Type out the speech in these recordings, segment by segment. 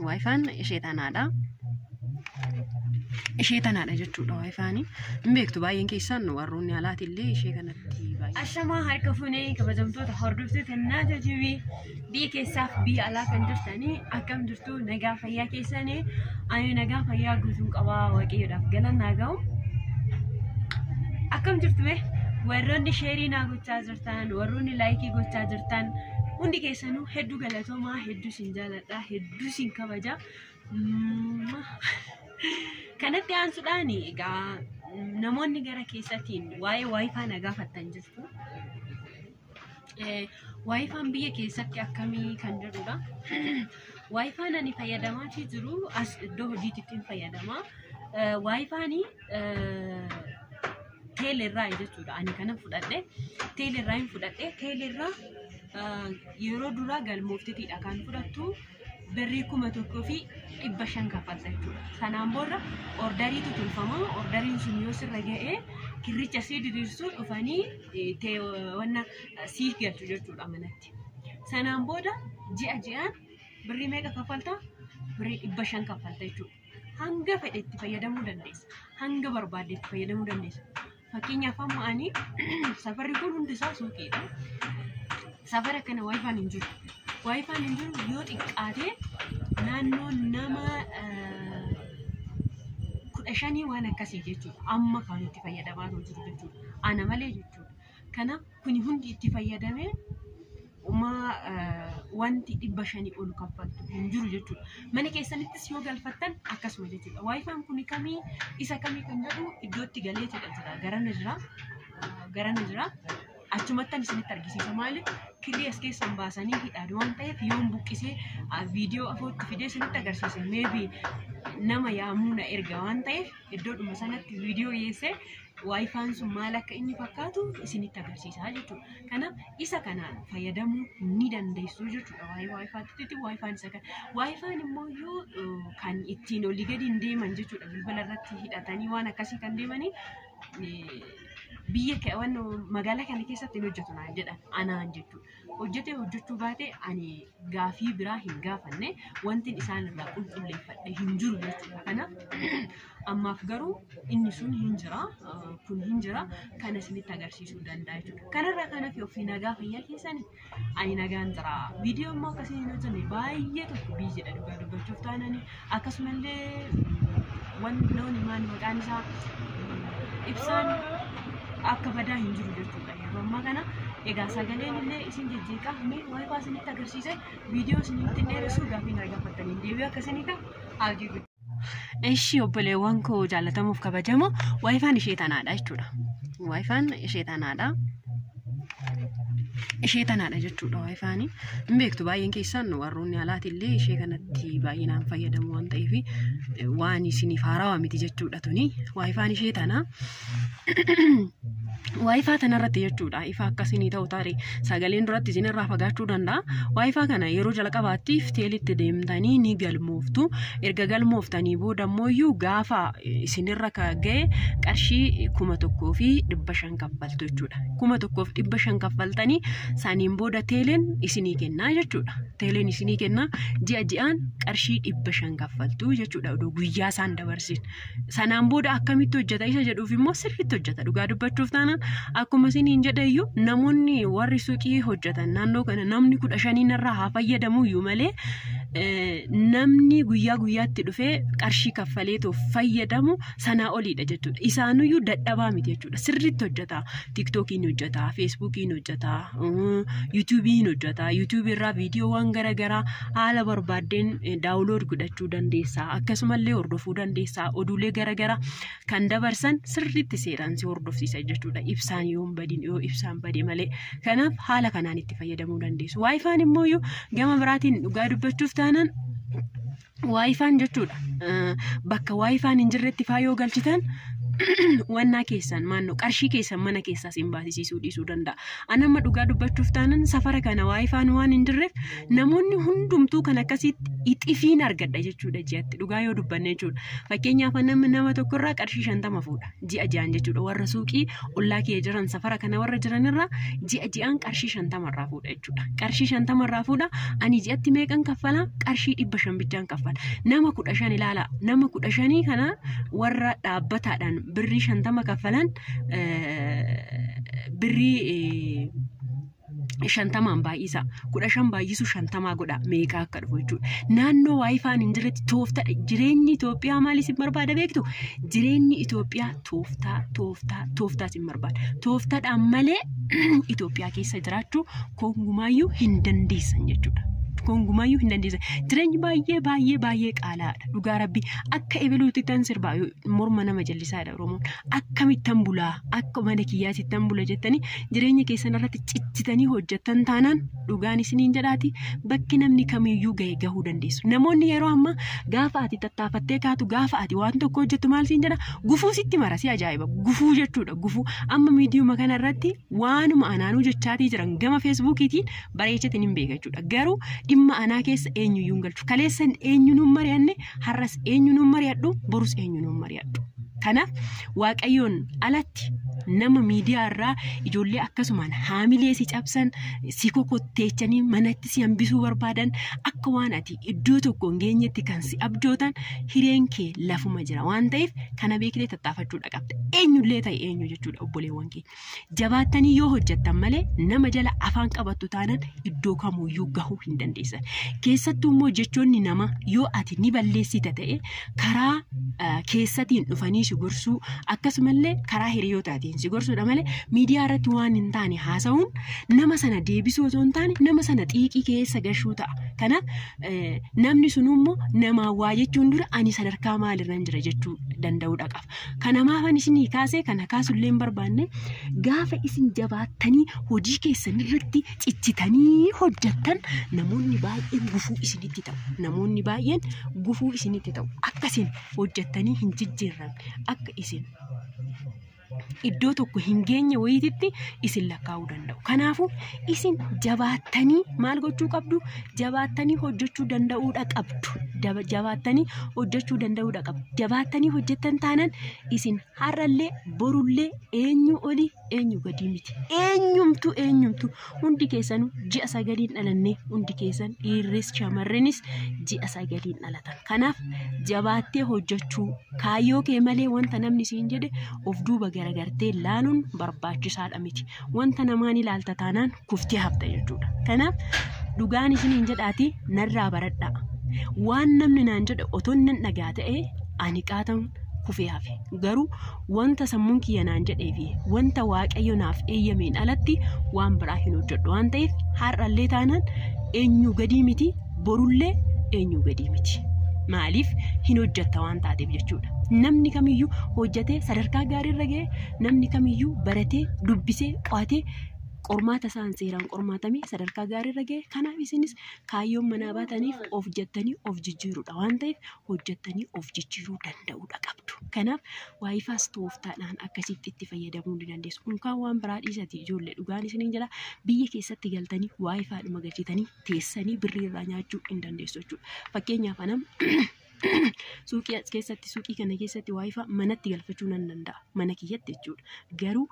Waayifaan ishee tanaadha. Ishee tanaadha jechuudha waayifaani. Hin beektu baay'een keessaan warroonni alaati illee ishee kanatti baay'ee. Ashamaa harka funee kabajamtoota hordoftoota kennaa jajjabii biyya keessaaf biyya alaa kan jirtanii akkam jirtu nagaa fayyaa keessanii ani nagaa fayyaa guutuun qabaa waaqayyoodhaaf galannaa ga'u. Akkam jirtu mee warroonni sheerii naa gochaa jirtan warroonni laayikii gochaa jirtan hundi keessanuu hedduu galatoomaa hedduu jaaladha hedduu isin kabaja kanatti aansuudhaan egaa namoonni gara keessatiin waa'ee waayifaa na gaafattan jirtu waayifaan biyya keessatti akkamii kan jedhudha waayifaan ani fayyadamaa jiru as iddoo hojiitti fayyadama waayifaanii teelerraa jechuudha ani kana fudhadhe teelerraa hin fudhadhe teelerraa yeroo duraa galmoofteetiidha kan fudhattu birrii kuma tokkoo fi dhibba shan kaffalta jechuudha. Sanaan booda ordariitu tolfama ordariin sun yoo sirra ga'ee kirricha sii diriirsuu dhufanii wanna sii galchu jechuudha manatti. Sanaan booda ji'a ji'aan birrii meeqa kaffalta? Birrii dhibba shan kaffalta jechuudha. hanga fedhe itti fayyadamuu dandeessa. Hanga barbaadde itti fayyadamuu dandeessa. Fakkeenyaaf amma ani safarri kun hundi isaa suuqiidha. Safara kana waayifaan hin jiru. Waayifaan hin jiru yoo xiqqaate naannoo nama eh, kudha shanii waan akkasii jechuudha. Amma kan itti fayyadamaa jiru jechuudha. Ana malee jechuudha. Kanaaf kuni hundi itti fayyadamee umaa wanti dhibba shanii ol kaffaltu hin jiru jechuudha. Mana keessanittis yoo galfattan akkasuma jechuudha. Waayifaan kun kamii isa kamii kan jedhu iddootti galeetidha jira. Garana jira. Garana jira. Achumattan isinitti argisiisa maaliif kirrii as keessan baasanii hidhaan waan ta'eef yoon buqqisee viidiyoo afootti fidee isinitti agarsiise meebi nama yaamuu na erga waan ta'eef iddoodhuma sanatti viidiyoo dhiyeessee waayifaan sun maal akka inni fakkaatu isinitti agarsiisaa jechuudha. Kanaaf isa kanaan fayyadamuu ni dandeessu jechuudha waa'ee waayifaatti waayifaan isa kana. Waayifaan immoo yoo eh, kan ittiin olii gadi hin deeman jechuudha bilbila irratti hidhatanii waan akkasii kan deemanii eh, biyya ke- waan magaalaa kana keessatti hin hojjetu naan jedhan anaan jechuudha. hojjetee hojjechuu baate ani gaafii biraa hin gaafanne wantin isaan irraa qulqulleeffadhe hin jiru jechuudha. Kanaaf ammaaf garuu inni sun hin jira eh, kun hin jira kana isinitti agarsiisuu danda'a jechuudha. Kanarraa kan hafe ofii nagaa fayyaa keessani ani nagaan jira. Viidiyoo immoo akkasii hin hojjenne baay'ee tokko biiziidha dhugaa dubbachuuf taanani akkasumallee wan loon himaan maqaan isaa ibsaan akka badaa hin jiru jechuudha yeroo ammaa kana egaa sagaleen illee isin jijjiiqa mee waayifaa isinitti agarsiise viidiyoo isinitti dheeressu gaaffii na gaafattaniin deebii akka isinii ta'u abdii guddaa. Eshi obboleewwan koo jaallatamuuf kabajamoo waayifaan ishee tanaadha jechuudha. Waayifaan ishee tanaadha. ishee tanaadha jechuudha waayifaan hin beektu baay'een keessaan warroonni alaati illee ishee kanatti baay'inaan fayyadamu waan ta'eef waan isiniif haarawaa miti jechuudha tuni waayifaan ishee tana waayifaa tanarratti jechuudha ifa akkasinii ta'u taare sagaleen duratti isinirraa fagaachuu danda'a waayifaa kana yeroo jalqabaattiif teelitti deemtanii ni galmooftu erga galmooftanii booda immoo iyyuu gaafa isinirra ka ga'e qarshii kuma tokkoo fi dhibba shan kaffaltu jechuudha. Kuma tokkoof dhibba shan kaffaltanii saniin booda teeleen isinii kennaa jechuudha. Teeleen isinii kennaa ji'a ji'aan qarshii dhibba shan kaffaltu jechuudha odoo guyyaa isaan dabarsin. Sanaan booda akkamitti hojjeta isa jedhuuf immoo sirriitti hojjeta dhugaa dubbachuuf taanaan akkuma isiniin jedhe iyyuu namoonni warri suuqii hojjetan naannoo kana namni kudha shaniin irraa haa fayyadamu iyyuu malee eh, namni guyyaa guyyaatti dhufee qarshii kaffaleetu fayyadamu sanaa oliidha jechuudha. Isaanuyyuu dadhabaa miti jechuudha. Sirriitti hojjeta. Tiiktookii ni hojjeta, Feesbuukii ni hojjeta, Yuutuubii ni hojjeta. Yuutuubii irraa viidiyoowwan garaagaraa haala barbaaddeen daawulood godhachuu dandeessaa. Akkasumallee hordofuu dandeessaa. Oduulee garaagaraa kan dabarsan sirriitti seeraan si hordofsiisa jechuudha. Ibsaan yoo hin badin yoo ibsaan bade malee. Kanaaf haala kanaan itti fayyadamuu dandeessu. Waayifaan immoo gama biraatiin dhugaa dubbachuuf taanaan waayifaan jechuudha. Eh, Bakka waayifaan hin jirretti faa yoo galchitan wannaa keessan maannoo qarshii keessan mana keessaas hin baasisiisuu dhiisuu danda'a. An amma dhugaa dubbachuuf taanan safara kana waayifaan waan hin jirreef namoonni hundumtuu kan akkasitti ixifiin argadha jechuudha ji'atti dhugaa yoo dubbanne jechuudha. Fakkeenyaaf an amma nama tokkorraa qarshii shantama fuudha. ji'a ji'aan jechuudha warra suuqii ollaa kiyya jiran safara kana warra jiranirra ji'a ji'aan qarshii shantama irraa fuudha jechuudha qarshii shantama irraa fuudha ani ji'atti meeqan kaffala qarshii dhibba shan bichaan kaffala nama kudha shan ilaala nama kudha shanii kana warra dhaabbataadhaan birrii shantama kaffalan birrii shantamaan baay'isa kudha shan baay'isu shantamaa godha meeqaa akka dhufu jechuudha. Naannoo waayifaan hin jirretti tooftadha. Jireenyi Itoophiyaa maal isin barbaada beektu? Jireenyi Itoophiyaa tooftaa tooftaa tooftaa isin barbaada. Tooftadhaan malee Itoophiyaa keessa jiraachuu kongumaayyuu hin dandeessan jechuudha. Kongumaayyuu hin dandeessan. Jireenyi baay'ee baay'ee baay'ee qaalaadha. Dhugaa rabbi akka ebeluutti tan sirbaa morma nama jallisaadha Oromoon. Akkamittan bulaa akka mana kiyyaatti tan bula jettanii jireenya keessan irratti cichitanii hojjettan taanaan dhugaan isiniin jedhaati bakki namni kamiyyuu ga'e gahuu dandeessu. Namoonni yeroo ammaa gaafa ati tattaafattee kaatu gaafa ati waan tokko hojjettu maal siin jedha gufuu sitti mara si ajaa'iba gufuu jechuudha gufuu amma miidiyuma kana irratti waanuma anaanuu jechaatii jiran gama feesbuukiitiin bareechatiin hin beeka jechuudha garuu dhimma anaa keessa eenyuyyuu hin galchu kaleessan eenyuun hin mari'anne har'as eenyuun hin mari'adhu borus eenyuun hin mari'adhu. Kanaaf Waaqayyoon alatti nama miidiyaa irraa ijoollee akkasumaan haamilee si cabsan si kokotteechanii manatti si hambisuu barbaadan akka waan ati iddoo tokko hin geenyetti kan si abjootan hireen kee lafuma jira waan ta'eef kana beeknee tattaafachuudha qabda eenyullee ta'e eenyu jechuudha obboleewwan kee. Jabaattanii yoo hojjettan malee nama jala afaan qabattu taanan iddoo kamuuyyuu gahuu hin dandeessan. Keessattuu immoo jechoonni namaa yoo ati ni balleessita ta'e karaa keessatiin dhufanii si gorsuu akkasumallee karaa hiriyootaatiin si gorsuudha malee miidiyaa irratti waan hin taane haasa'uun nama sana deebisuu osoo hin taane nama sana xiiqii keessa gashuu ta'a. Kanaaf namni sun immoo namaa waa jechuun dura ani sadarkaa maalirran jira jechuu danda'uudha qaba. Kana maafan isinii kaase kana kaasullee hin barbaanne gaafa isin jabaattanii hojii keessan irratti cichitanii hojjettan namoonni baay'een gufuu isinitti ta'u. Namoonni baay'een gufuu isinitti ta'u. Akka isin hojjettanii hin jijjiirran akka isin iddoo tokko hin geenye wayiititti isin lakkaa'uu danda'u. Kanaafuu isin jabaattanii maal gochuu qabdu jabaattanii hojjechuu danda'uudha qabdu Daba- jabaattanii hojjechuu danda'uudha qabdu jabaattanii hojjettan taanan isin har'allee borullee eenyu olii eenyu gadii miti eenyumtu eenyumtu hundi keessanuu ji'a sagaliin dhalannee hundi keessan dhiirris shamarrenis ji'a sagaliin dhalatan kanaaf jabaattee hojjechuu kaayyoo kee malee wanta namni siin jedhe of duuba garagartee laaluun barbaachisaadha miti wanta namaa ni ilaalta taanaan kuftee hafta jechuudha. Kanaaf dhugaan isiniin jedhaatii narraa baradhaa. Waan namni naan jedhe otoo nan dhagaa ta'ee ani qaatan kufee hafe. Garuu wanta sammuun kiyya naan jedhee fi wanta waaqayyo naaf eeyyameen alatti waan biraa hin hojjedhu waan ta'eef har'allee taanaan eenyu gadii miti borullee eenyu gadii miti. Maaliif hin hojjetta waan taateef jechuudha. Namni kamiyyuu hojjetee sadarkaa gaariirra ga'ee namni kamiyyuu baratee dubbisee qo'atee qormaata isaan seeraan qormaatamee sadarkaa gaariirra ga'e kanaaf isinis kaayyoon manaa baataniif of jettanii of jijjiiruudha waan ta'eef hojjettanii of jijjiiruu danda'uudha qabdu kanaaf waayifaas tooftaadhaan akkasitti itti fayyadamuu ni dandeessu unkaan waan biraa dhiisati ijoollee dhugaan isiniin jedha biyya keessatti galtanii waayifaadhuma galchitanii teessanii birrii irraa nyaachuu hin dandeessu jechuudha fakkeenyaaf anam suuqii as keessatti suuqii kana keessatti waayifaa manatti galfachuu nan danda'a mana kiyyatti jechuudha garuu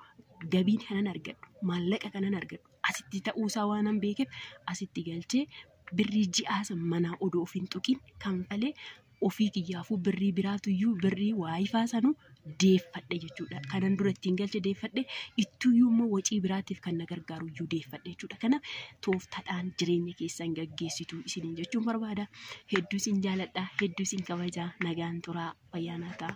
gabiin kanan argadhu maallaqa kanan argadhu asitti ta'uusaa waanan beekeef asitti galchee birrii ji'aasa manaa odoo ofiin tuqiin kanfalee ofii kiyyaafuu birrii biraatuyyuu birrii waayifaa sanuu deeffadhe jechuudha. Kanan dura ittiin galche deeffadhe ittuyyuu immoo wacii biraatiif kan na gargaaru iyyuu deeffadhe jechuudha. Kanaaf tooftadhaan jireenya keessan gaggeessitu isiniin jechuun barbaada. Hedduu isin jaaladha, hedduu isin kabajaa, nagaan turaa, fayyaa naa ta'a.